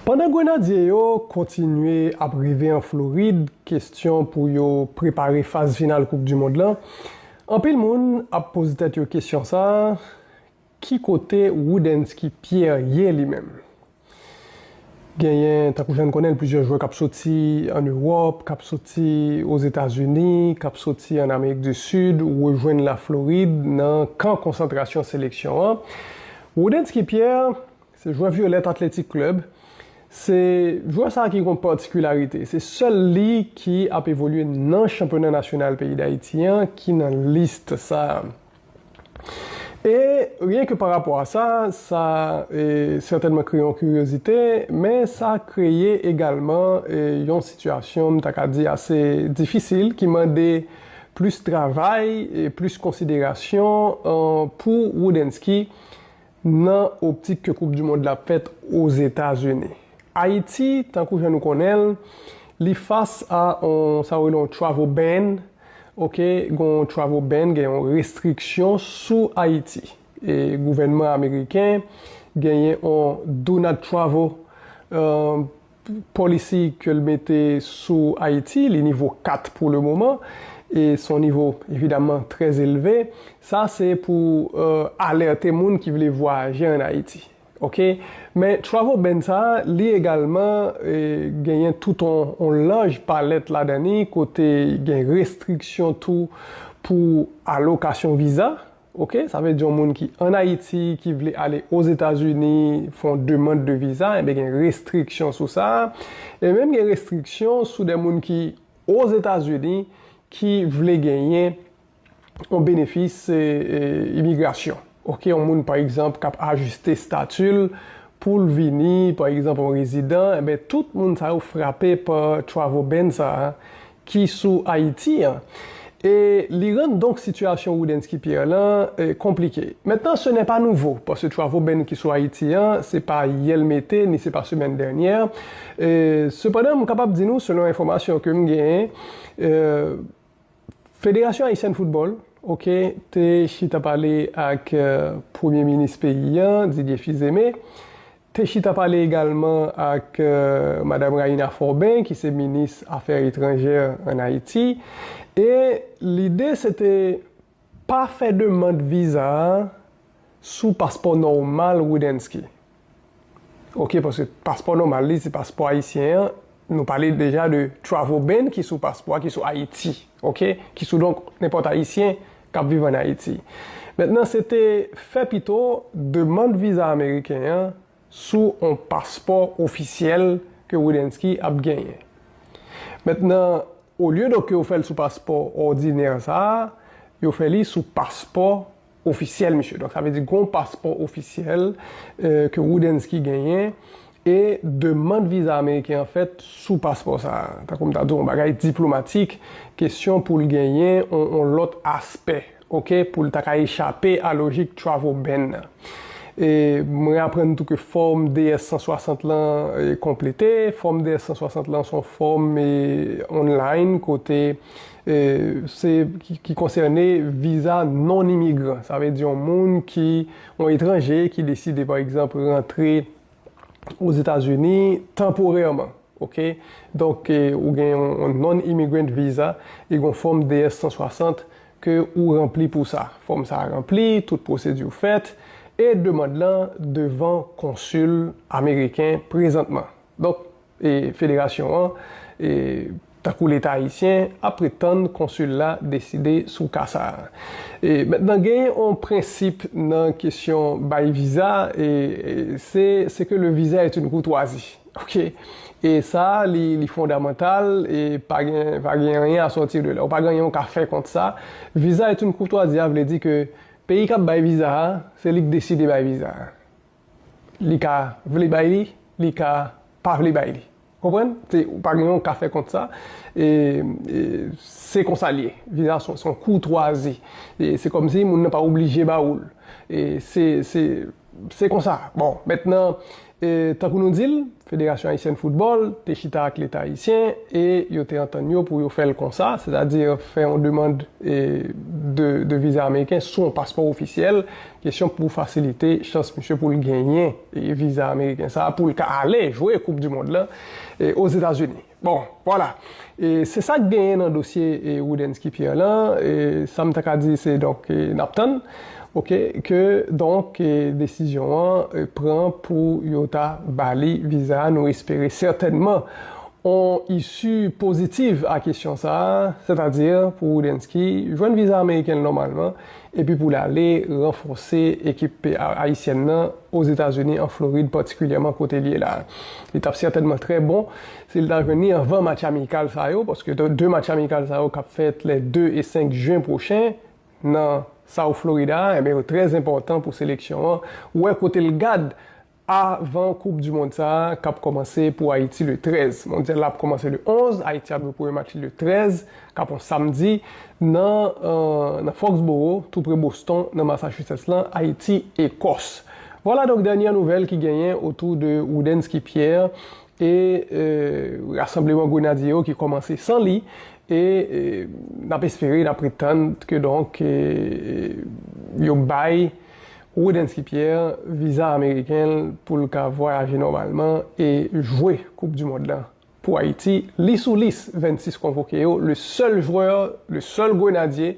Pandan Grenadye yo kontinye ap rive an Florid kestyon pou yo prepare faz final koup du mond lan, anpil moun ap poze tèt yo kestyon sa, ki kote Roudensky Pierre ye li menm? Genyen tankou jan n konnen l plizyè jwè k ap soti an Ewòp, k ap soti Ozetazini, k ap soti an Amerik du Sud rejwenn la Florid nan kan konsantrasyon seleksyon an. Roudensky Pierre Se jwè Violette Athletic Club. Se jwè sa ki gon patikilarite. Se sèl li ki ap evolye nan chanpyona nasyonal peyi Dayiti an ki nan list sa. E ryen ke pa rapò a sa, sa sètènman kreye yon kiryozite, men sa kreye egalman yon sitiyasyon m ta ka di ase difisil ki mande plis travay, plis konsiderasyon pou Roudensky. Nan optik ke koup du mond la ap fèt Ozetazini. Ayiti, tankou jan nou konnen l, li fas a on sa yo rele on travel ban, ok, gen on travel ban, gen on restriksyon sou Ayiti. E gouvènman ameriken genyen on do not travel, Policy ke l mete sou Ayiti, li nivo 4 pou le moman, e s on nivo evidaman trè elve. Sa se pou alète moun ki vle vwayaje an Ayiti. Ok. Men travel ban sa, li egalman genyen tout on laj palèt ladan li, kote gen restriksyon tou pou alokasyon viza, Ok, sa vle di yon moun ki an Ayiti, ki vle ale Ozetazini, fè yon demand de viza, enben gen restriksyon sou sa. E menm gen restriksyon sou de moun ki Ozetazini ki vle genyen yon benefis imigrasyon. Ok, yon moun pa egzanp k ap ajiste stati l pou l vini pa egzanp yon rezidan, enben tout moun sa yo frape pa travel ban sa a ki sou Ayiti an e li rann donk sitiyasyon Roudensky Pierre lan konplike. Mentnan se nè pa nouvo paske travo beny ki sou Ayiti an se pa yè l mete ni se pa semèn dènyè sepandan m kapab di nou selon enfòmasyon ke m genyen Federasyon Ayisyèn Foutbòl ok te chita pale ak premye minis peyi an Didier Fils-Aimé Te chita pale egalman ak Madam Raïna Forbin ki se minis afè etranjè an Ayiti e lide se te pa fè demand viza a sou paspò nòmal Roudensky. Ok paske paspò nòmal li se paspò ayisyen an Nou pale deja de travel ban ki sou paspò a ki sou Ayiti ok ki sou donk nenpòt ayisyen kap viv an Ayiti mentnan se te fè pito demand viza ameriken an sou on paspò ofisyèl ke Roudensky ap genyen mentnan olye do ke yo fèl sou paspò òdinè sa yo fè li sou paspò ofisyèl misye. Donk sa vle di gen yon paspò ofisyèl ke Roudensky genyen e demand viza ameriken an fèt sou paspò sa a. Tankou m ta di w yon bagay diplomatik, kesyon pou l genyen yon lòt aspè ok pou l ta ka echape a lojik travel ban nan. E mwen aprann tou ke fòm DS-160 lan konplete. Fòm DS-160 lan se yon fòm online kote. ki konsène viza non imigran. Sa vle di yon moun ki, yon etranje ki deside pa egzanp rantre Ozetazini tanporèman. Ok? Donk ou gen yon non immigrant visa e gon fòm DS 160 ke ou ranpli pou sa. Fòm sa ranpli, tout pwosedi ou fèt e demand lan devan konsil ameriken prezantman. Donk Federasyon an, tankou Leta Ayisyen, ap ret tann konsil la deside sou ka sa a. Mentnan gen yon prensip nan kesyon bay viza, se ce que le visa est une courtoisie. Ok. E sa a li fondamantal e pa gen anyen a sortir de là. Ou pa gen anyen ou ka fè kont sa. Visa est une courtoisie a vle di ke peyi k ap bay viza a, se li k deside bay viza a. Li ka vle bay li, li ka pa vle bay li. Ou konprann? Se, ou pa gen yon ka fè kont sa. E, e, se konsa l ye. Viza se yon koutwazi. E, se kòm si moun nan pa oblije ba ou l. E, se, se, se konsa. Bon, mentnan, e, tankou nou di l, Federasyon Ayisyèn Foutbòl te chita ak Leta Ayisyen e yo te antann yo pou yo fè l konsa, sètadi fè yon demand de viza ameriken sou yon paspò ofisyèl, kesyon pou fasilite chans misye pou l genyen viza ameriken sa a pou l ka ale jwe koupdimond lan Ozetazini. Bon, vwala. E se sa k genyen nan dosye Roudensky Pierre lan, e sa m ta ka di se donk n ap tann, ok, ke donk desizyon an pran pou yo ta ba li viza a, nou espere sètènman on isi pozitiv a kesyon sa a, sètadi pou Roudensky jwenn viza ameriken l nòmalman, epi pou l ale ranfòse ekip pa ayisyèn nan Ozetazini, an Florid patikilyèman kote l ye la a. Li t ap sètènman trè bon si l ta jwenn li anvan match amikal sa yo, paske 2 match amikal sa yo k ap fèt le 2 e 5 jen pwochen nan South Florida a, enben yo trè enpòtan pou seleksyon an wè kote l gad Avan koup du mond sa a kap kòmanse pou Ayiti le 13. Mondyal la ap kòmanse le 11, Ayiti ap jwe premye match li le 13, kap on samdi, nan nan Foxboro, tou pre Boston, nan Massachusetts lan, Ayiti, Ekòs. Vwala donk dènyè nouvèl ki genyen otou de Roudensky Pierre e rasanbleman Grenadye yo ki kòmanse san li e nap espere, nap ret tann ke donk yo bay Roodensky Pierre viza ameriken l pou l ka vwayaje nòmalman e jwe koup du mond lan pou Ayiti, li sou lis 26 konvoke yo, le sèl jwè, le sèl grenadye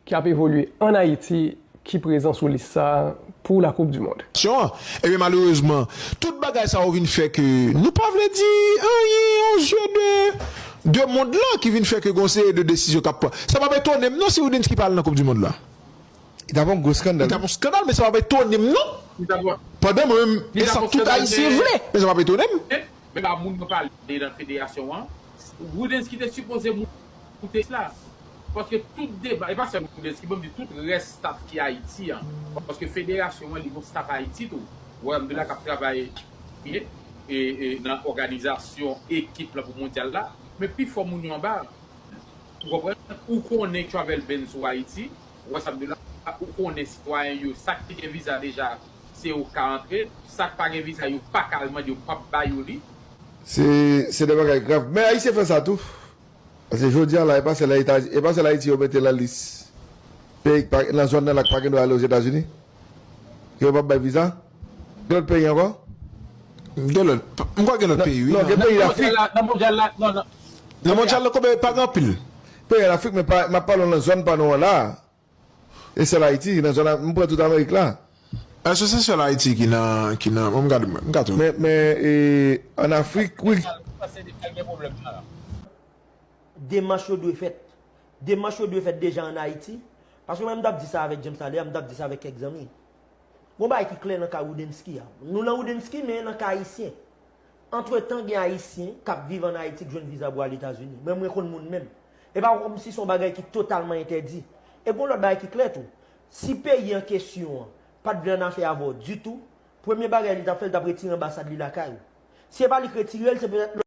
ki ap evolye an Ayiti ki prezan sou lis sa pou la koup du mond. Syon an. Ebyen malerezman tout bagay sa yo vin fè ke nou pa vle di anyen o zye de de mond lan ki vin fè ke gen yon seri de desizyon k ap pran. Sa p ap etone m non si Roodensky pa al nan koup du mond lan. Li tap yon gwo skandal. Li tap yon skandal men sa pap etonem non. Li tap yon. Pandan mwen menm e sa tout ayisyen vle men sa pap etonem. Men pa moun mwen pale nan federasyon an. Roudensky te sipoze moute la. Paske tout deba e pa sèl Roudensky banm di tout rès staff ki Ayiti an. Paske federasyon an li gon staff Ayiti tou. Royaume de la kap travay byen e nan òganizasyon ekip la pou mondyal la. Men pi fò moun yo anba. Ou konprann? Ou konnen travel ban sou Ayiti, ou wè sa m di w la, ou konnen sitwayen yo, sa ki gen viza deja, se yo k ka antre, sa k pa gen viza yo pa ka al mande, yo pap ba yo li. Se, se de bagay grav. Men Ayisyen fè sa tou. Paske jodi a la, e pa sèl Etazi, e pa sèl Ayiti yo mete lan lis peyi k pa, lan zòn nan la k pa gen dwa ale Ozetazini, ke yo pap bay viza. Gen lòt peyi ankò? Gen lòt, m kwè gen lòt peyi wi. Non gen peyi lafrik. Nan mondyal la, non nan. Nan mondyal la koube pa gen anpil. Peyi an lafrik men pa, map pale w nan zòn pa nou an la a. E sèl Ayiti, nan zòn, m pran tout amerik la. Èske se sèl Ayiti ki nan, ki nan, bon m gad, m ka tou. Men, men e, an afrik wi. Ou panse Senegal gen pwoblèm sa a? Demach yo dwe fèt. Demach yo dwe fèt deja an Ayiti. Paske mwen m tap di sa avèk James talè a, m tap di sa avèk kèk zanmi. Gon bagay ki klè nan ka Roudensky a. Nou lan Roudensky men nan ka Ayisyen. Antretan gen Ayisyen k ap viv an Ayiti k jwenn viza pou al Etazini. Mwen mwen konn moun menm. E pa kòmsi se yon bagay ki totalman entèdi. E gon lòt bagay ki klè tou. Si peyi an kesyon an pa t vle annafè avè w ditou, premye bagay li t ap fè li t ap retire anbasad li lakay ou. Si e pa li k retire l se petèt lòt.